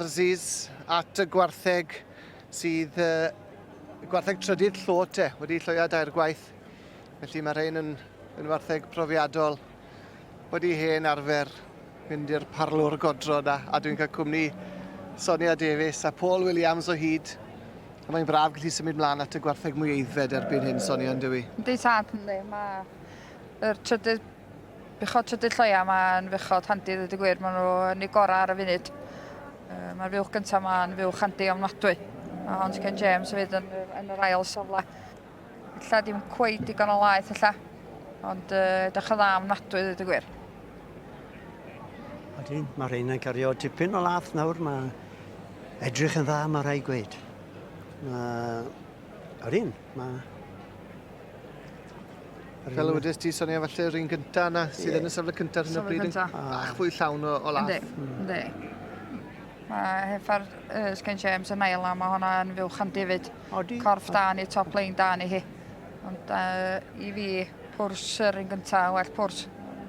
Aziz at y gwartheg sydd y gwartheg trydydd llot e, wedi lloia dair gwaith. Felly mae rhain yn, yn wartheg profiadol, wedi hen arfer mynd i'r parlwr godro na, a dwi'n cael cwmni Sonia Davies a Paul Williams o hyd. A mae'n braf gallu symud mlaen at y gwartheg mwy eiddfed erbyn hyn, Sonia, yn dywi? Di tad, yndi. Mae yr trydydd Bechod Trydydd Lloia, mae'n fechod handi ddweud y gwir, maen nhw yn eu gorau ar y funud. Mae'r fuwch gyntaf ma'n fuwch handi ofnadwy. Mae Hons Ken James yn fydd yn, yn yr ail safle. Ella dim cweith digon o laeth ella, ond uh, edrych yn dda ofnadwy ddweud y gwir. Ydyn, mae rhain yn cario tipyn o lath nawr, mae edrych yn dda, mae rhai gweud. Mae... Ydyn, mae... Fel y wedys ti, Sonia, falle yr un gyntaf yna sydd yeah. yn y safle cyntaf ar hyn o bryd yn bach fwy llawn o, o laff. Ynddi, ynddi. Hmm. Mae heffa'r uh, Sgen James yn ail a mae hwnna yn fyw chan David. Odi. Corff da ni, top lane da ni hi. Ond uh, i fi, pwrs yr un gyntaf, well pwrs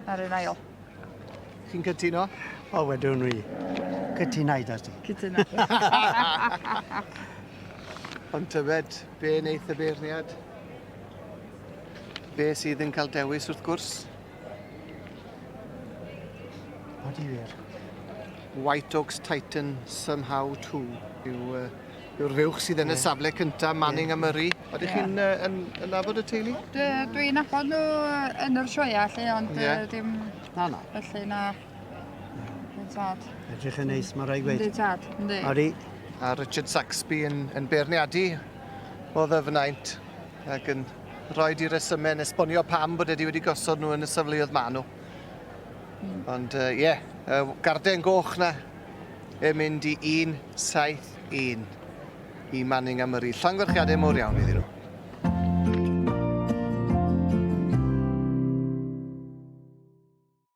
ar un ail. Chi'n cytuno? O, wedwn ni. Cytunau da ti. Cytunau. Ond tyfed, Be wneith y beirniad? Be sydd yn cael dewis wrth gwrs? What do you hear? White Oaks Titan somehow too yw uh, yw'r fuwch sydd yn yeah. y safle cyntaf, Manning yeah. a Murray. Oeddech yeah. chi'n uh, yn, yn nabod y teulu? Dwi'n nabod nhw yn yr sioia lle, ond yeah. uh, dim... Na, na. Felly, na. Tad. Edrych yn neis, mae rhaid gweud. Ynddi tad, ynddi. Ori. A Richard Saxby yn, yn beirniadu o ddyfnaint ac yn rhoi di resymau yn esbonio pam bod wedi wedi gosod nhw yn y safleoedd maen nhw. Mm. Ond ie, uh, yeah, uh, garden goch na yn mynd i 171 i Manning am yr i llongorchiadau mor iawn iddyn nhw.